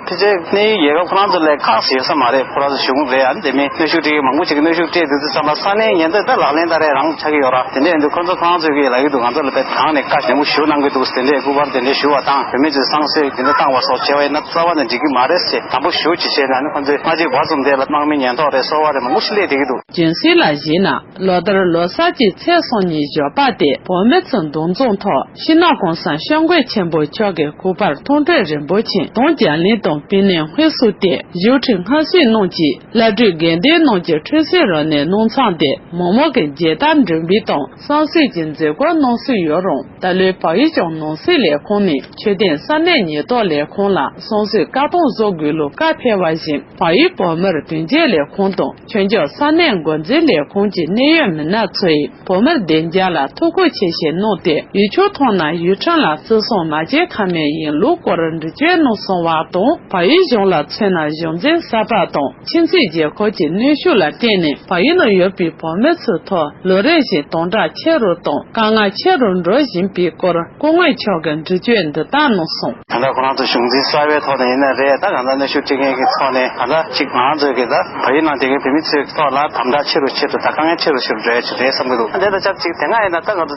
དེ་ཚེ་གནས་ཡུལ་རྒྱལ་ཁབ་ཁོ་ན་ཚོ་ལས་ཁག་ཟེར་ས་མ་རེད་ཁོ་ར་ཚོ་ཞུ་གུང་རེད་ཡ་དེ་མིན་གནོད་ཤུགས་སྤྲད་ཀྱི་མང་པོ་ཞིག་གི་གནོད་ཤུགས་སྤྲད་འདུག་ཚུལ་བསམ་པ་ས་གནས་ཉེན་རྟོག་ད་ལག་ལེན་ད་རེས་རང་ཆགས་ཀྱི་ཡོད་ར་དེ་འདྲས་ཡིན་དུས་ཁོ་ཚོ་ཁོ་རང་ཚོས་ཀྱི་ལ་ཡུལ་དུ་ང་ཚོ་ལ་བལ་ཐང་ནས་བཀའ་ཞེན་པོ་ཞུ་གནང་གི་འདུག་དེ་འདྲས་སྐུ་པར་དེ་འདྲས་ཞུ་བ་དང་བོད་མི་ཚོས་བསང་གསོལ་དེ་འདྲས་བཏང་བ་སོགས་བྱས་བ་ཡིན་ན་རྩ་བ་ནས་འགྲིག་གི་མ་རེད་ཟེར་དམ་པོ་ཞུ་ཅི་བྱས་ན་ནི་ཁོ་ཚོས་སྔ་རྗེས་བར་ཙུམ་དེ་ལ་དམག་མི་ཉེན་རྟོག་རེད་སོ་བ་རེད་མང་པོ་ཞིག་སླེབས་བསྡད་ཀྱི་འདུག། སྦྱིན་སྲེག་ལ་བཞེས་ན་
ལོ་ལྟར་ལོ་གསར་གྱི་ཚེས་སོ་གཉིས་ཞོགས་པ་སྟེ་བོད་མི་ཚོས་མདོ་རྫོང་ཐོག་ཤིང་ནགས་གོང་ས་ཤོག་མགོན་ཆེན་པོ་མཆོག་གི་སྐུ་པར་མཐོང་གྲོལ་རིན་པོ་ཆེ་དང་རྒྱ་གླིང་དང་བི་ནན་དབུས་བསུ་སྟེ་བཞུགས་ཁྲི་སྔ་ཕྱིར་གནང་གྱིས་བླ་སྤྲུལ་དགེ་ལྡན་རྣམས་ཀྱི་འཁྲུལ་སེམས་རོ་ནས་སྣང་ཚང་སྟེ་མོག་མོག་གི་མཇལ་དར་འགྲེམས་སྤེལ་དང་བསང་གསོལ་གྱི་མཛད་སྒོ་གནང་སྲོལ་ཡོད་རུང། ད་ལོའི་བག་ཡོད་ཀྱང་ནང་སྲིད་ལས་ཁུངས་ནས་ཆོས་ལྡན་ས་གནས་ཉེན་རྟོག་ལས་ཁུངས་ལ་སོང་ཟོས་བཀག་སྡོམ་བཟོ་དགོས་ལུགས་བཀའ་ཕེབས་པ་བཞིན་བག་ཡོད་བོད་མིར་དོན་གཅོད་ལས་ཁུངས་དང་ཆོས་འབྱོར་ས་གནས་མགོ་འཛིན་ལས་ཁུངས་ཀྱི་གནད་ཡོད་མི་སྣ་ཚོས་བོད་མིར་བདེ་འཇགས་ལ་ཐུགས་ཁུར་ཆེ་བཞེས་གནང་སྟེ་ཡུལ་ཕྱོགས་ཐོག་ན་ཡུལ་ཁྲིམས་ལ་བརྩི་སྲུང་མ་བྱས་ཁ་མེད་ཡིན་ལུགས་སྐོར་འདྲི་གཅོད་གནང་སོང་བ་དང་བག་ཡོད་གཞུང་ལ་མཚོན་ན་གཞུང་འཛིན་ས་པ་དང། ཕྱི་ཚེས་བརྒྱད་འཁོར་གྱི་གནོན་ཤུགས་ལ་བརྟེན་ནས་བ་ཡི་ནང་ཡོད་པའི་བོད་མི་ཚོའི་ཐོག་ལོ་རེ་བཞིན་སྟོང་ཕྲག་ཆེ་རུ་དང་དཀའ་ངལ་ཆེ་རུ་འགྲོ་བཞིན་པའི་སྐོར་སྐུ་ངོས་མཆོག་གིས་འགྲུལ་བསྐྱོད་འདི་དག་གནང་སོང། ད་ལྟ་ཁོ་རང་ཚོ་གཞུང་
འཛིན་གསར་བའི་ཐོག་ནས་ཡིན་ནི་རེད་ད་གང་ལྟར་གནོན་ཤུགས་སྤྲད་མཁན་གྱི་ཚོགས་ནས་གང་ཟག་ཅིག་ང་ཚོས་གིས་ད་བ་ཡི་ནང་སྡོད་མཁན་བོད་མི་ཚོའི་ཐོག་ལ་དམ་དྲག་ཆེ་རུ་ཆེད་དུ་ད་དཀའ་ངལ་ཆེ་རུ་ཞུ་རུ་འགྲོ་ཡ་ཆེ་རེད་བསམ་གྱི་འདུག་དེ་དང་ཆབས་ཅིག་དེ་སྔ་ཡིན་ན་ད་ང་ཚོ་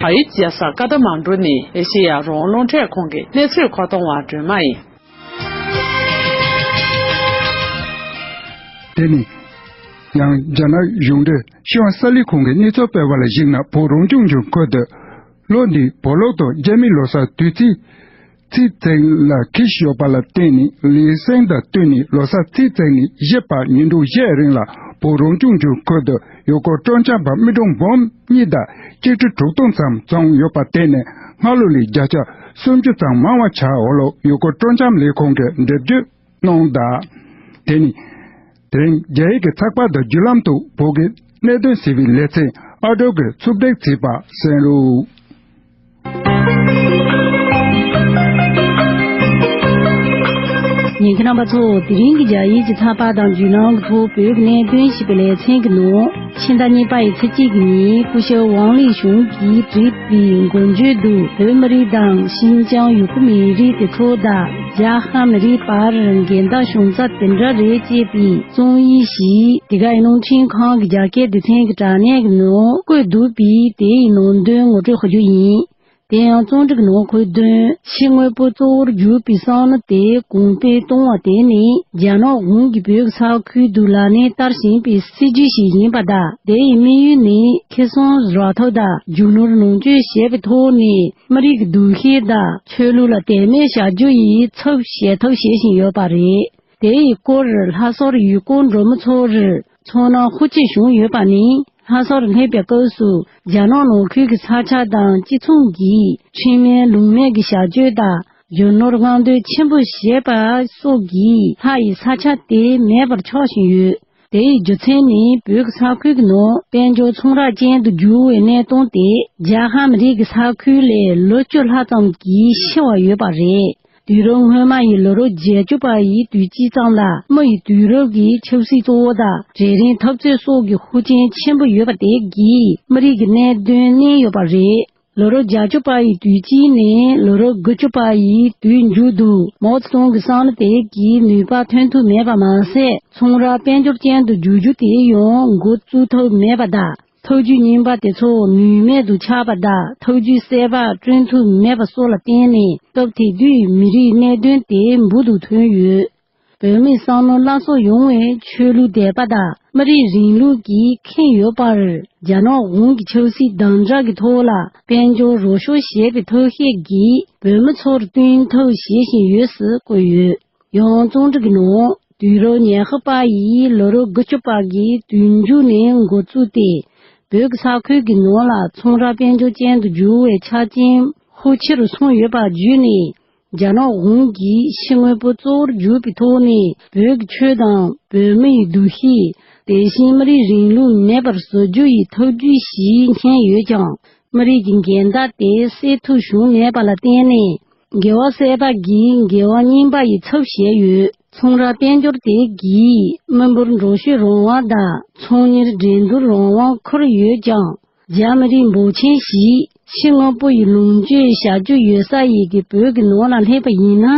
བ་ཡི་རྒྱལ་ས་ཀ་ཐ་མང་གྲུ་ནི་ཨེ་ཤེ་ཡ་རོང་རླུང་འཕྲད་ཁང་གི་གནས་ཚུལ་མཁོ་གཏོང་བ་སྒྲོལ་མ་ཡིན།
དེ་ནི། ཡང་རྒྱ་ནག་གཞུང་འབྲེལ་ཤིས་ཝང་ས་ལི་ཁང་གི་གནས་ཚུལ་སྤེལ་བ་ལ་གཞིགས་ན་བོད་རང་སྐྱོང་ལྗོངས་ཁུལ་དུ། ལོ་འདིའི་བོད་ལོག་དང་རྒྱ་མི་ལོ་སར་དུས་ཚིགས། རྩིས་བརྩེགས་ལ་ཁི་ཞིག་ཡོད་པ་ལ་བརྟེན་ནས་ལི་སེང་དང་བསྟུན་ནས་ལོ་སར་རྩིས་བརྩེགས་ནས་བཞེས་པ་ཉིན་དྲུག་བཞེས་རིང་ལ་བོད་རང་སྐྱོང་ལྗོངས་ཁུལ་དུ་ཡུལ་སྐོར་སྤྲོ་འཆམ་པ་རྨི་གྲོང་འབུམ་གཉིས་དང་གཅིག་ཁྲི་དྲུག་སྟོང་ཙམ་བཙོངས་ཡོད་པ་བརྟེན་ནས་སྔར་ལོ་ལས་བརྒྱ་ཆ་སུམ་ཅུ་ཙམ་མང་བ་བྱ་འོག་ལོ་ཡུལ་སྐོར་སྤྲོ་འཆམ་ལས་ཁུངས་ཀྱི་འདེབས་འཛུགས་གནང་གདའ། དེ་ནི། དེ་རིང་རྒྱ་ཡིག་གི་ཚགས་པར་དུ་བརྒྱུད་ལམ་དུ་བོད་ཀྱི་གནད་དོན་ཞེས་པའི་ལེ་ཚན་ཨ་དྲུག་གི་ཚུགས་གཏེར་བརྩིས་པ་གསན་
རོགས། ཉན་གྱི་རྣམ་པ་ཚོ་དེ་རིང་གི་རྒྱ་ཡིག་གི་ཚགས་པར་དང་བརྒྱུད་ལམ་དུ་བོད་ཀྱི་གནད་དོན་ཞེས་པའི་ལེ་ཚན་གྱི་ནང། ཕྱི་ཟླ་གཉིས་པ་ཡི་ཚེས་གཅིག་ཉིན་སྐུ་ཞབས་ཝང་ལི་ཞུང་གིས་བྲིས་པའི་མགོ་མཇུག་ཏུ་བོད་མི་རིགས་དང་ཤིན་ཅང་ཡུ་གུར་མི་རིགས་ཀྱི་ཁྲོད་དུ་རྒྱ་ཧ་མི་རིགས་བར་འགལ་ཟླ་བྱུང་ས་དེ་འདྲ་རེད་ཅེས་པའི་རྩོམ་ཡིག་ཞིག་དེ་གའི་རླུང་འཕྲིན་ཁང་གི་རྒྱ་སྐད་སྡེ་ཚན་གྱི་དྲ་གནས་ཀྱི་ནང་བཀོད་འདུག་པས་དེའི་ནང་དོན་ངོ་སྤྲོད་ཞུ་རྒྱུ་ཡིན། དེ་ཡང་རྩོམ་རིག་ནང་ཁུལ་བདུན་ཕྱི་དངོས་པོ་གཙོ་བོར་གྱུར་པའི་གསང་ལ་དེ་གོང་སྤེལ་གཏོང་བ་དེ་ནི་རྒྱ་ནག་གཞུང་གིས་བོད་ས་ཁུལ་བདུད་ལ་ནས་བསྟར་བཞིན་པའི་སྲིད་ཇུས་ཤིག་ཡིན་པ་དང་དེ་ཡི་དམིགས་ཡུལ་ནི་ཁེ་གསང་རག་ཐབས་དང་རྒྱུ་ནོར་ནང་བཅོལ་བྱེད་པའི་ཐོག་ནས་མི་རིགས་ཀྱི་འདུ་ཤེས་དང་ཆོས་ལུགས་ལ་དད་མོས་བྱ་རྒྱུ་ཡི་ཚབ་བྱེད་ཐབས་བྱེད་བཞིན་ཡོད་པ་རེད། དེ་ཡི་སྐོར་ལྷ་སར་ཡུལ་སྐོར་འགྲོ་མི་ཚོར། མཚོ་ནང་ཧུར་སྐྱེད་བྱུང་ཡོད་པ་ནི་ལྷ་སར་སླེབས་པའི་སྐབས་སུ་རྒྱ་ནག་ནང་ཁུལ་གྱི་ས་ཆ་དང་གཅིག་མཚུངས་ཀྱིས་ཁྲིམས་མེད་ལུགས་མེད་ཀྱི་བྱ་སྤྱོད་དང་རྒྱུ་ནོར་སྔོག་འདོན་ཆེན་པོ་བྱས་པ་སོགས་ཀྱིས་ལྷ་ཡི་ས་ཆ་དེ་མེད་པར་ཆགས་བཞིན་ཡོད། དེའི་རྒྱུ་མཚན་ནི་བོད་ཀྱི་ས་ཁུལ་གྱི་ནང་དཔལ་འབྱོར་ཚོང་ར་ཅན་དུ་གྱུར་བའི་གནས་སྟངས་དེས་རྒྱ་ཧམ་རིགས་ཀྱི་ས་ཁུལ་ལས་ལོ་བཅུ་ལྷག་ཙམ་གྱིས་ཕྱི་བ་ཡོད་པ་རེད། དུས་རབས་སྔོན་མ་ཡི་ལོ་རབས་བརྒྱད་ཅུ་པ་ཡི་དུས་དཀྱིལ་ཙམ་ལ་མོ་ཡི་དུས་རབས་ཀྱི་ཆབ་སྲིད་གཙོ་བོ་དང་གྲལ་རིམ་འཐབ་རྩོད་སོགས་ཀྱི་ཤུགས་རྐྱེན་ཆེན་པོ་ཡོད་པ་དེ་གིས་མི་རིགས་ཀྱི་གནད་དོན་བསྣན་ཡོད་པ་རེད། ལོ་རབས་བརྒྱ་ཅུ་པ་ཡི་དུས་དཀྱིལ་ནས་ལོ་རབས་དགུ་ཅུ་པ་ཡི་དུས་མཇུག་ཏུ་མའོ་ཙེ་ཏུང་གི་བསམ་བློ་དེ་གིས་ནུས་པ་ཐོན་ཐུབ་མེད་པ་མ་ཟད་ཚོང་ར་དཔལ་འབྱོར་ཅན་དུ་བསྒྱུར་རྒྱུ་དེ་ཡང་འགོ་བཙུགས་ཐུབ་མེད་པ་དང། ཐུགས་རྒྱུད་བསྙེན་པ་དེ་ཚོ་ནུས་མེད་དུ་ཆགས་པ་དག་ཐུགས་རྒྱུད་གསལ་བག་བསྐྲུན་ཐུབ་མེད་པ་སོགས་ལ་བརྟེན་ནས་སྐབས་དེ་དུས་མི་རིགས་གནད་དོན་དེ་འབུར་དུ་ཐོན་ཡོད། བོད་མི་སང་ནོར་བླ་སྲོག་ཡོང་བའི་ཆོས་ལུགས་དད་པ་དག་མི་རིགས་རིང་ལུགས་ཀྱིས་ཁེངས་ཡོད་པར་རྒྱ་ནག་གོང་གི་ཆབ་སྲིད་དམ་དྲག་གི་ཐོག་ལ་དཔལ་འབྱོར་རོགས་ཤོར་བྱས་པའི་ཐབས་ཤེས་ཀྱིས་བོད་མི་ཚོར་བསྟུན་ཐབས་བྱེད་བཞིན་ཡོད་ཟེར་བཀོད་ཡོད། ཡང་རྩོམ་སྒྲིག་ནང་དུས་རབས་ཉི་ཤུ་པ་ཡིས་ལོ་རབས་དགུ་བཅུ་པ་གི་དུས་མཇུག་ནས་འགོ་བཙུགས་ཏེ་བོད་ཀྱི་ས་ཁུལ་གྱི་ནང་ལ་ཚོང་ར་དཔལ་འབྱོར་ཅན་དུ་འགྱུར་བའི་ཆ་རྐྱེན་ཤུགས་ཆེ་རུ་སོང་ཡོད་པ་བརྒྱུད་ནས་རྒྱ་ནག་གཞུང་གིས་ཕྱི་དངོས་པོ་གཙོ་བོར་གྱུར་པའི་ཐོག་ནས་བོད་ཀྱི་ཆོས་དང་བོད་མིའི་འདུ་ཤེས་དེ་བཞིན་མི་རིགས་རིང་ལུགས་མེད་པར་བཟོ་རྒྱུ་ཡི་ཐབས་བརྒྱུད་ཞིག་མཁྱེན་ཡོད་ཀྱང་མི་རིགས་ཀྱི་འགལ་ཟླ་དེ་སེལ་ཐུབ་བྱུང་མེད་པ་ལ་བརྟེན་ནས། རྒྱལ་བ་སྲས་དག་གིས་རྒྱལ་བ་བསྙེན་པ་ཡི་ཚབ་བཞེས་ཡོད། ཚོང་ར་དཔལ་འབྱོར་དེ་གའི་མི་འབོར་འགྲོ་ཤུལ་རོང་བ་དང་ཚོང་གཉེར་འགྲན་བསྡུར་རོང་བ་འཁོར་ཡོད་ཀྱང། རྒྱ་མི་རིགས་འབོར་ཆེན་ཞིག་ཕྱི་དངོས་པོ་ཡི་ལོངས་སྤྱོད་བྱ་རྒྱུ་ཡོད་ས་ཡི་གི་བོད་ཀྱི་ནང་ལ་སླེབས་པ་ཡིན་ན།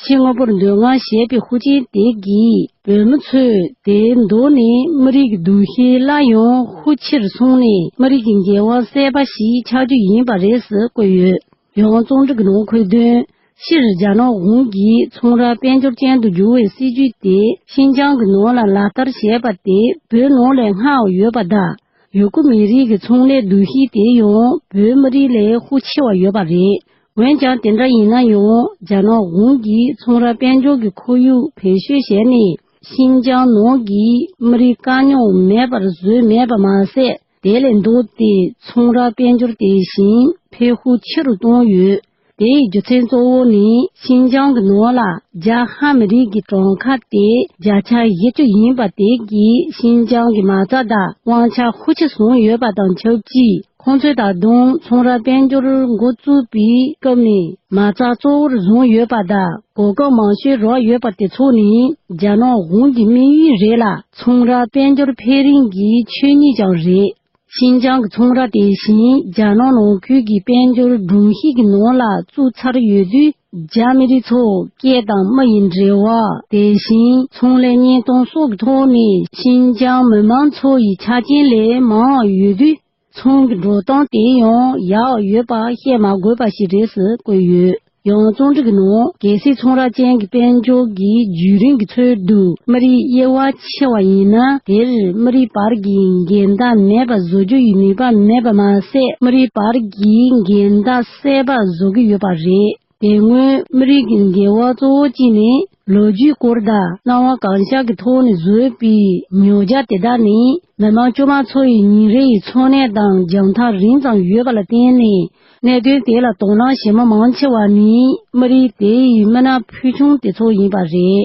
ཕྱི་དངོས་པོར་འདོད་དགའ་བྱེད་པའི་ཧུ་ཅིན་དེ་གིས་བོད་མི་ཚོས་དེའི་མདོ་ནས་མི་རིགས་ཀྱི་འདུ་ཤེས་སླར་ཡང་ཧུ་ཕྱིར་སོང་ནས་མི་རིགས་ཀྱི་རྒྱལ་བ་སྲས་པ་ཞིག་ཆགས་རྒྱུ་ཡིན་པ་རེད་ཟེར་བཀོད་ཡོད། ཡང་རྩོམ་སྒྲིག་ནང་འཁོད་དོན་ཕྱིར་རྒྱ་ནག་གཞུང་གིས་ཚོང་ར་དཔལ་འབྱོར་ཅན་དུ་བསྒྱུར་བའི་སྲིད་ཇུས་དེ་ཤིན་ཅང་གི་ནང་ལ་ལག་བསྟར་བྱས་པ་དེ་བོད་ནང་ལས་སྔ་བ་ཡོད་པ་དང་ཡུ་གུར་མི་རིགས་ཀྱི་ཚོང་ལས་འདུ་ཤེས་དེ་ཡང་བོད་མི་རིགས་ལས་ཤུགས་ཆེ་བ་ཡོད་པ་རེད། འོན་ཀྱང་དེ་འདྲ་ཡིན་ན་ཡང་རྒྱ་ནག་གཞུང་གིས་ཚོང་ར་དཔལ་འབྱོར་གྱི་ཁོར་ཡུག་བེད་སྤྱོད་བྱས་ནས་ཤིན་ཅང་ནང་གི་མི་རིགས་དཀའ་རྙོག་མེད་པར་བཟོས་མེད་པ་མ་ཟད། དེ་ལས་མདོར་བསྟན་ཚོང་ར་དཔལ་འབྱོར་དེ་བཞིན་འཕེལ་ཤུགས་ཆེ་རུ་བཏང་ཡོད། དེའི་རྒྱུ་མཚན་གཙོ་བོ་ནི་ཤིན་ཅང་གི་ནོར་ལ་རྒྱ་ཧ་མི་རིགས་ཀྱི་གྲོང་ཁ་སྟེ་བརྒྱ་ཆ་བཞི་བཅུ་ཡིན་པ་དེ་གིས་ཤིན་ཅང་གི་མ་རྩ་དང་དབང་ཆ་ཤུགས་ཆེ་བཟུང་ཡོད་པ་དང་ཆབས་ཅིག་ཁོང་ཚོས་ད་དུང་ཚོང་ར་དཔལ་འབྱོར་འགོ་བཙུགས་པའི་སྐབས་ནས་མ་རྩ་གཙོ་བོར་བཟུང་ཡོད་པ་དང། གོ་སྐབས་མང་ཤོས་རོགས་ཡོད་པ་དེ་ཚོ་ནི་རྒྱ་ནག་གཞུང་གི་དམིགས་ཡུལ་རེད་ལ་ཚོང་ར་དཔལ་འབྱོར་འཕེལ་རིམ་གྱི་ཆོས་ཉིད་ཀྱང་རེད། ཤིན་ཅང་གི་ཚོང་ར་དེ་བཞིན་རྒྱ་ནག་ནང་ཁུལ་གྱི་དཔལ་འབྱོར་སྒྲོམ་གཞི་གི་ནང་ལ་བཙུགས་ཚར་ཡོད་དུས་རྒྱ་མི་རིགས་ཚོ་སྐད་དང་མི་ཡི་འབྲེལ་བ་དེ་བཞིན་ཚོང་ལས་གཉེན་སྟོན་སོགས་ཀྱི་ཐོག་ནས་ཤིན་ཅང་མི་མང་ཚོ་ཡི་ཆ་རྐྱེན་ལས་མང་བ་ཡོད་དུས། ཚང་གི་འགྲོ་སྟངས་དེ་ཡང་ཡག་ཡོད་པ་བཤད་མ་དགོས་པ་ཞིག་རེད་ཟེར་བཀོད་ཡོད། ཡང་རྩོམ་སྒྲིག་གི་ནང་གལ་སྲིད་ཚོང་ར་ཅན་གྱི་དཔལ་འབྱོར་གྱི་བརྒྱུད་རིམ་གྱི་ཚོད་དུ་མི་རིགས་དབྱེ་བ་ཕྱེ་བ་ཡིན་ན་དེར་མི་རིགས་བར་གྱི་འགལ་ཟླ་མེད་པ་བཟོ་རྒྱུ་ཡི་ནུས་པ་མེད་པ་མ་ཟད་མི་རིགས་བར་གྱི་འགལ་ཟླ་སེལ་བར་བཟོ་གི་ཡོད་པ་རེད། དེ་སྔོན་མི་རིགས་ཀྱི་འགལ་བ་གཙོ་བོ་གཅིག་ནི་ལོ་རྒྱུས་སྐོར་དང་སྣང་བ་གང་ཤར་གྱི་ཐོག་ནས་བཟོས་པའི་ཉོ་རྒྱ་དེ་དག་ནི་མི་མང་དཀྱུས་མ་ཚོ་ཡི་ཉིན་རེའི་འཚོ་གནས་དང་རྒྱང་ཐག་རིང་ཙམ་ཡོད་པ་ལ་བརྟེན་ནས་གནད་དོན་དེ་ལ་དོ་སྣང་བྱེད་མི་མང་ཆེ་བ་ནི་མི་རིགས་དེ་ཡི་མི་སྣ་ཕུལ་བྱུང་དེ་ཚོ་ཡིན་པ་རེད།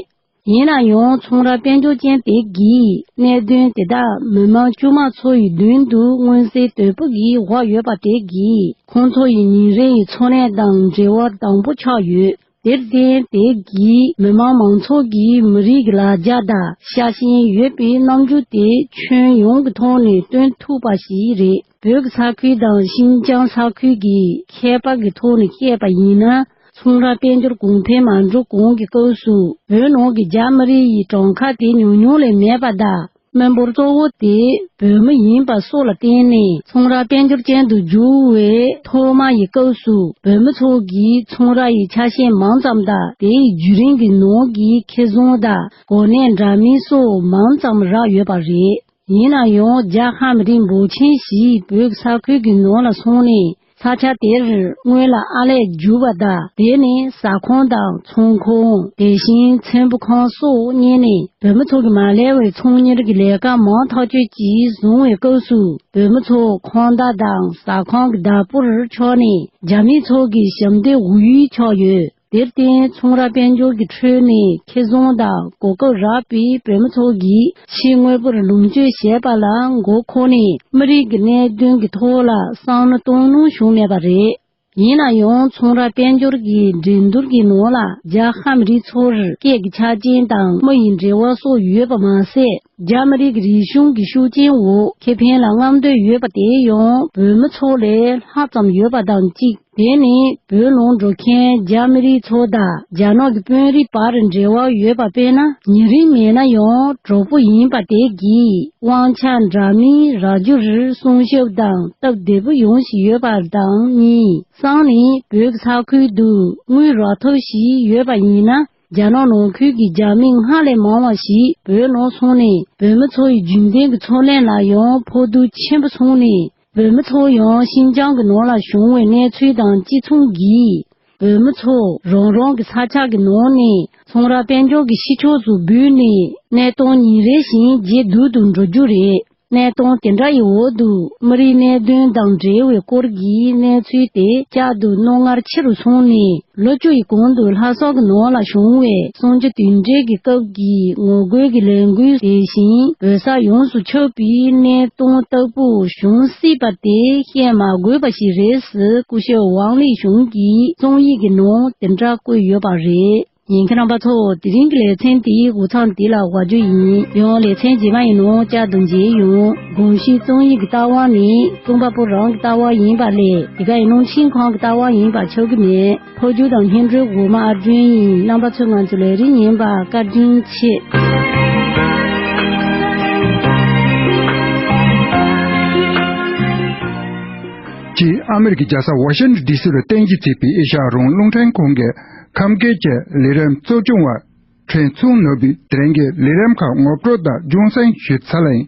ཡིན་ན་ཡང་ཚོང་ར་དཔལ་འབྱོར་ཅན་དེ་གའི་གནད་དོན་དེ་དག་མི་དམངས་དཀྱུས་མ་ཚོ་ཡི་མདུན་དུ་མངོན་གསལ་དོད་པོ་གིས་བཞག་ཡོད་པ་དེ་གིས་ཁོང་ཚོ་ཡི་ཉིན་རེ་ཡི་འཚོ་གནས་དང་འབྲེལ་བ་དང་པོ་ཆགས་ཡོད། དེར་བརྟེན་དེ་གའི་མི་དམངས་མང་ཚོགས་ཀྱིས་མི་རིགས་ཀྱི་ལ་རྒྱ་དང་ཤ་ཞེན་ཡོད་པའི་རྣམ་འགྱུར་དེ་ཁྱོན་ཡོངས་ཀྱི་ཐོག་ནས་སྟོན་ཐུབ་པ་ཞིག་རེད། བོད་ས་ཁུལ་དང་ཤིན་ཅང་ས་ཁུལ་གྱི་ཁྱད་པར་གྱི་ཐོག་ནས་བཤད་པ་ཡིན་ན། ཚོང་ར་དཔལ་འབྱོར་གོང་འཕེལ་མ་འགྲོ་གོང་གི་སྐབས་སུ་བོད་ནང་གི་རྒྱ་མི་རིགས་ཡི་གྲངས་ཁ་དེ་ཉུང་ཉུང་ལས་མེད་པ་དང་དམོད་འབོར་གཙོ་བོ་དེ་བོད་མི་ཡིན་པ་སོགས་ལ་བརྟེན་ནས་ཚོང་ར་དཔལ་འབྱོར་ཅན་དུ་བསྒྱུར་བའི་ཐོག་མ་ཡི་སྐབས་སུ་བོད་མི་ཚོ་གིས་ཚོང་ར་ཡི་ཆ་ཤས་མང་ཙམ་དང་དེའི་བརྒྱུད་རིམ་གྱི་ནང་གི་ཁེ་བཟང་དང་གོ་གནས་འདྲ་མིན་སོགས་མང་ཙམ་རག་ཡོད་པ་རེད། ཡིན་ན་ཡང་རྒྱ་ཧམ་རིན་པོ་ཆེན་ཞིག་བོད་ས་ཁུལ་གྱི་ནང་ལ་སོང་ནས་ས་ཆ་དེར་སྔོན་ལ་ཨ་ལས་བསྒྱུར་བ་དག་དེ་ནི་ཟ་ཁང་དང་ཚོང་ཁང་དེ་བཞིན་མཚན་བུ་ཁང་སོགས་གཉེར་ནས་བོད་མི་ཚོ་གི་མ་ལས་བའི་ཚོང་གཉེར་གྱི་ལས་ཀ་མང་ཐག་ཆོད་ཅིག་བཟུང་བའི་སྐབས་སུ་བོད་མི་ཚོ་ཁང་བདག་དང་ཟ་ཁང་གི་བདག་པོར་ཆགས་ནས་རྒྱ་མི་ཚོ་གི་ཞབས་འདེགས་འོག་ཡུལ་ཆགས་ཡོད། དེར་བརྟེན་ཚོང་ར་དཔལ་འབྱོར་གྱི་ཁྲོད་ནས་ཁེ་བཟུང་དང་གོ་སྐབས་རག་པའི་བོད་མི་ཚོ་གིས་ཕྱིའི་དངོས་པོར་ལུང་སྤྱོད་བྱེད་པ་ལ་མགོ་འཁོར་ནས་མི་རིགས་ཀྱི་གནད་དོན་གྱི་ཐོག་ལ་བསམ་བློ་གཏོང་ནུས་བྱུང་མེད་པ་རེད། ཡིན་ན་ཡང་ཚོང་ར་དཔལ་འབྱོར་གྱི་འགྲན་བསྡུར་གྱི་ནང་ལ་རྒྱ་ཧ་མི་རིགས་ཚོར་སྐད་ཀྱི་ཆ་རྐྱེན་དང་མི་ཡི་འབྲེལ་བ་སོགས་ཡོད་པ་མ་ཟད་རྒྱ་མི་རིགས་ཀྱི་རིག་གཞུང་གི་ཤུགས་རྐྱེན་འོག་ཁེ་ཕན་ལ་རྔམ་འདོད་ཡོད་པ་དེ་ཡང་བོད་མི་ཚོ་ལས་ལྷག་ཙམ་ཡོད་པ་དང་གཅིག། དེ་ནི་བོད་ལུང་འགྲོ་མཁན་རྒྱ་མི་རིགས་ཚོ་དང་རྒྱ་ནག་གི་དཔོན་རིགས་བར་འབྲེལ་བ་ཡོད་པ་དཔེར་ན་ཉེ་རིང་མེད་ན་ཡང་གྲོགས་པོ་ཡིན་པ་དེ་གིས་དབང་ཆ་འདྲ་མིན་རག་རྒྱུར་སྲུང་ཤུབས་དང་སྟབས་བདེ་པོ་ཡོང་བཞིན་ཡོད་པ་དང་གཉིས་སང་ནི་བོད་ཀྱི་ས་ཁུལ་དུ་དངུལ་རག་ཐབས་ཤིག་ཡོད་པ་ཡིན་ན་རྒྱ་ནག་ནང་ཁུལ་གྱི་རྒྱ་མི་སྔར་ལས་མང་བ་ཞིག་བོད་ནང་སོང་ནས་བོད་མི་ཚོ་ཡི་རྒྱུན་ལྡན་གྱི་འཚོ་གནས་ལ་ཡང་ཕོག་ཐུག་ཆེན་པོ་སོང་ནས་བོད་མི་ཚོ་ཡང་ཤིན་ཅང་གི་ནང་ལ་བྱུང་བའི་གནས་ཚུལ་དང་གཅིག་མཚུངས་བགྱིས། བོད་མི་ཚོ་རང་རང་གི་ས་ཆ་གི་ནང་ནས་ཚོང་ར་དཔལ་འབྱོར་གྱི་ཕྱི་ཕྱོགས་སུ་འབུད་ནས་གནས་སྟངས་ཉིན་རེ་བཞིན་ཇེ་སྡུག་ཏུ་འགྲོ་རྒྱུ་རེད། གནས་སྟངས་དེ་འདྲ་ཡི་འོག་ཏུ་མི་རིགས་གནད་དོན་དང་འབྲེལ་བའི་སྐོར་གྱི་གནས་ཚུལ་
དེ་བསྐྱར་དུ་རྣོ་ངར་ཆེ་རུ་སོང་ནས། ལོ་བཅུ་ཡི་གོང་དུ་ལྷ་སོགས་ཀྱི་ནང་ལ་བྱུང་བའི་གསང་རྒྱ་དུས་འབྲེལ་གྱི་སྐབས་ཀྱི་ངོ་རྒོལ་གྱི་ལས་འགུལ་དེ་བཞིན་བོད་ས་ཡོངས་སུ་ཁྱབ་པའི་གནད་དོན་ལྟ་བུ་བྱུང་སྲིད་པ་དེ་བཤད་མ་དགོས་པ་ཞིག་རེད་ཟེར་སྐུ་ཞབས་ཝང་ལི་ཞུང་གིས་རྩོམ་ཡིག་གི་ནང་དེ་འདྲ་བཀོད་ཡོད་པ་རེད། ཉན་མཁན་རྣམ་པ་ཚོ་དེ་རིང་གི་ལེ་ཚན་དེའི་འུ་ཚང་འདི་ལ་དབའ་ཇོ་ཡིན་ཡང་ལེ་ཚན་རྗེས་མ་ཡིན་ནོ་ཅག་ཏུ་མཇལ་ཡོང། དགོངས་ཤིག་རྩོམ་ཡིག་གི་ལྟ་བ་ནི་རྩོམ་པ་པོ་རང་གི་ལྟ་བ་ཡིན་པ་ལས་དེ་ག་ཡིན་ནོ་ཤིང་གང་གི་ལྟ་བ་ཡིན་པ་ཆོག་གི་མེད། ཕོ་རྒྱུད་དང་སྙན་སྒྲོན་འོག་མ་ཨར་སྒྲོན་ཡིན་རྣམ་པ་ཚོས་ང་ཚོའི་ལས་རིགས་ཉན་པ་བཀའ་དྲིན་ཆེ། གཅིག་ཨ་མི་རི་ཀའི་རྒྱལ་ས་ཝ་ཤི་ནི་ལྡི་སི་རུ་གཏན་གྱི་བརྩིགས་པའི་ཨེ་ཤ་ཡ་རོང་ཀླུང་ཕྲན་ཁང་གི་ཁམས་སྐད་ཀྱི་ལས་རིམ་གཙོ་སྐྱོང་བ། ཁྲེན་ཚུང་ནོར་བུའི་དྲན་གྱི་ལས་རིམ་ཁག་ངོ་སྤྲོད་དང་ལྗོངས་སྲིང་ཞུ་ཚ་ལེང།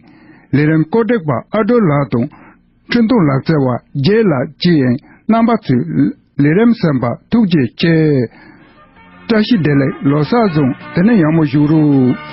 ལས་རིམ་བཀོད་སྒྲིག་པ་ཨ་དྲོ་ལགས་དང། འཕྲིན་གཏོང་ལག་རྩལ་བ་རྒྱལ་ལགས་བཅས་ཡན་རྣམ་པ་ཚོས་ལས་རིམ་གསན་པར་ཐུགས་རྗེ་ཆེ། བཀྲ་ཤིས་བདེ་ལེགས་ལོ་གསར་བཟང་དེ་ནས་ཡག་མོ་བཞུགས་རོགས།